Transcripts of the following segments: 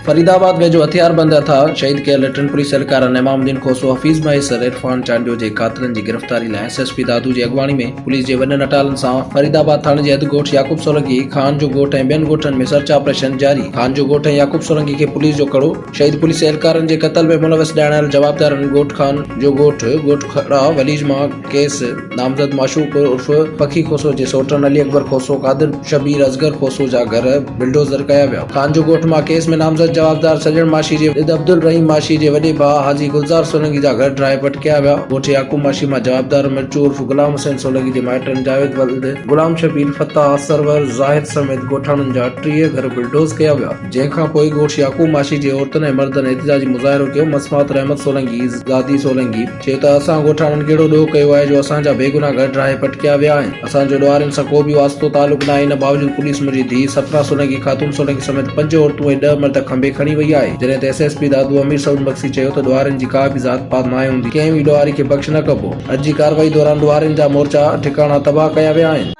فريد آباد ويجهو هٿياربند اٿاهه شهيد ڪيل ٽن پوليس اهلڪارن امام الدين کوسو، حفيظ مهيسر، عرفان چانڊيو جي قاتلن جي گرفتاري لاء ايس ايس پي دادو جي اڳواڻي ۾ پوليس جي وڏن اٽالن سان فريد آباد ٿاڻي جي حد ڳوٺ يعقوب سولنگي، خان جو ڳوٺ ۽ ٻين ڳوٺن ۾ سرچ آپريشن جاري، خان جو ڳوٺ ۽ يعقوب سولنگي کي پوليس جو ڪڙو. شهيد پوليس اهلڪارن جي قتل ۾ ملوث ڄاڻايل جوابدارن ڳوٺ خان جو ڳوٺ ڳوٺ کهڙا وليج مان ڪيس نامزد معشوق عرف پکي کوسو جي سوٽن علي اڪبر کوسو قادر شبير اصغر کوسو جا گهر بلڊوزر ڪيا ويا خان جو ڳوٺ مان ڪيس ۾ نامزد جوابدار سڄڻ ماشي جي ود عبدالرحيم ماشي جي وڏي ڀاء حاجي گلزار سولنگي جا گهر ڊاهي پٽ ڪيا ويا ڳوٺ يعقوب ماشي مان جوابدار مرچو عرف غلام حسين سولنگي جي مائٽن جاويد ولد غلام شبير فتاح سرور زاهد سميت ڳوٺاڻن جا ٽيهه گهر بلڊوز ڪيا ويا. جنهن کان پوء گوشت يعقوب معاشي جي عورتن ۽ مردن احتجاجي مظاهرو ڪيو، مسمات رحمت سولنگي، زادي سولنگي، چيو ته اسان ڳوٺاڻن ڪهڙو ڏوهه ڪيو آهي جو اسان جا بيگناهه گهر ڊاهي پٽڪيا ويا آهن، اسان جو ڏوهارين سان ڪو به واسطو تعلق ناهي، ان باوجود پوليس منهنجي ڌيء سپنا سولنگي، خاتون سولنگي سميت پنج عورتون ۽ ڏهه مرد کنڀي کڻي وئي آهي، جڏهن ته S S P Dadu Amir Saud Magsi چيو ته ڏوهارين جي ڪا به ذات پات ناهي هوندي، ڪنهن به ڏوهاري کي بخش نه ڪبو، اڄ جي ڪارروائي دوران ڏوهارين جا مورچا ۽ ٺڪاڻا تباهه ڪيا ويا آهن.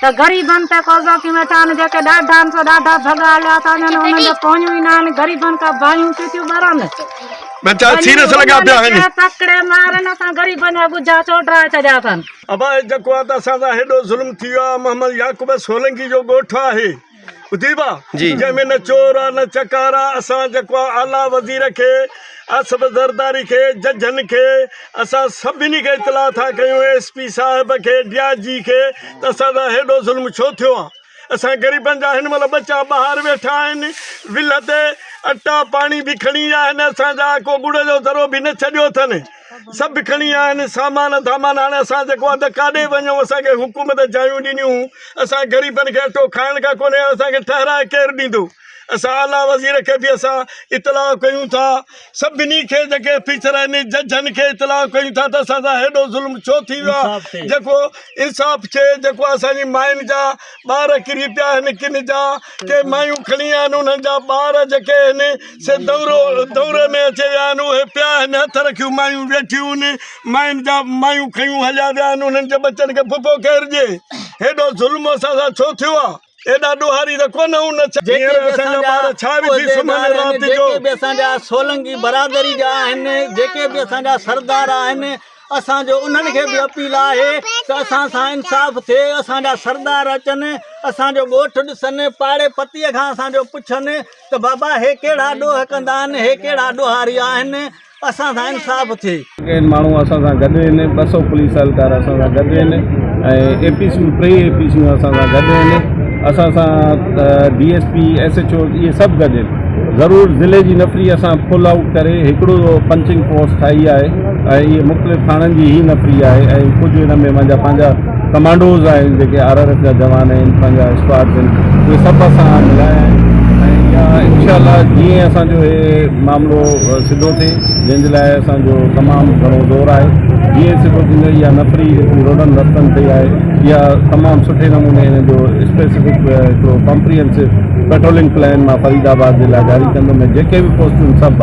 ته غريبن تي قبضو ڪيون ويٺا آهن جيڪي ڏاڍان سو ڏاڍا ڀڳا هليا ٿا وڃن انهن جون پونيون ئي نه آهن غريبن کان باهيون ٿيون ٿيون ٻرن ٻچا سير سان لڳا پيا آهن تڪڙي مارن اسان غريبن جا ڳجها ڇو ڊرائي ڇڏيا اٿن. ابا هي جيڪو آهي ته اسان سان هيڏو ظلم ٿي ويو آهي محمد يعقوب سولنگي جو ڳوٺ آهي. جنهن ۾ نه چور آ نه چڪار آ اسان جيڪو آ اعليٰ وزير کي اصف زرداري کي ججن کي اسان سڀني کي اطلاع ٿا ڪيون ايس پي صاحب کي ڊي آء جي کي ته اسان سان هيڏو ظلم ڇو ٿيو آ اسان غريبن جا هن مهل ٻچا ٻاهر ويٺا آهن ولهه تي اٽا پاڻي به کڻي ويا آهن اسان جا ڪو ڳڙ جو ذرو به نه ڇڏيو اٿن سڀ کڻي آهن سامان ڌامان هاڻي اسان جيڪو اڌ ڪاڏي وڃون اسان کي حڪومت جايون ڏنيون اسان غريبن کي اٽو کائڻ کان ڪونهي اسان کي ٺهرائي ڪير ڏيندو اسان اعليٰ وزير کي به اسان اطلاع ڪيون ٿا سڀني کي جيڪي فيچر آهن ججن کي اطلاع ڪيون ٿا ته اسان سان هيڏو ظلم ڇو ٿي ويو آهي جيڪو انصاف ٿئي جيڪو اسان جي ماين جا ٻار ڪري پيا هن ڪن جا ڪي مايون کڻي آيا آهن انهن جا ٻار جيڪي هن سي دورو دوري ۾ اچي ويا آهن اهي پيا هن هٿ رکيون مايون ويٺيون آهن ماين جا مايون کيون هليا ويا آهن انهن جي ٻچن کي ڦڦو ڪير ڏي هيڏو ظلم اسان سان ڇو ٿيو آهي ايڏا ڏوهاري ته ڪونه هون نه ڇا جيڪي به اسان جا ٻار ڇا وجهي سمهن رات جو جيڪي به اسان جا سولنگي برادري جا آهن جيڪي به اسان جا سردار آهن اسان جو انهن کي به اپيل آهي ته اسان سان انصاف ٿئي، اسان جا سردار اچن، اسان جو ڳوٺ ڏسن، پاڙي پتيء کان اسان جو پڇن ته بابا هي ڪهڙا ڏوهه ڪندا آهن، هي ڪهڙا ڏوهاري آهن، اسان سان انصاف ٿئي. جيڪي ماڻهو اسان سان گڏ آهن، ٻه سؤ پوليس اهلڪار اسان سان گڏ آهن ۽ اي پي سيون ٽيئي اي پي سيون اسان سان گڏ آهن، اسان سان D S P, S H O اهي سڀ گڏ آهن. ضرور ضلعي جي نفري اسان فل آئوٽ ڪري هڪڙو پنچنگ پوسٽ ٺاهي آهي ۽ هي مختلف ٿاڻن جي هي نفري آهي ۽ ڪجهه هن ۾ مانجا پنهنجا ڪمانڊوز آهن جيڪي آر آر ايف جا جوان آهن پنهنجا اسڪواڊز آهن اهي سڀ اسان ملايا آهن ۽ اها انشاء الله جيئن اسان جو هي معاملو سڌو ٿئي جنهن جي لاء اسان جو تمام گهڻو زور آهي جيئن سڌو ٿيندو اها نفري جيڪي روڊن رستن تي آهي اها تمام سٺي نموني هن جو اسپيسفڪ هڪڙو ڪامپريهنسو پيٽرولنگ پلان مان فريد آباد جي لاء جاري ڪندو ۾ جيڪي به پوسٽون سڀ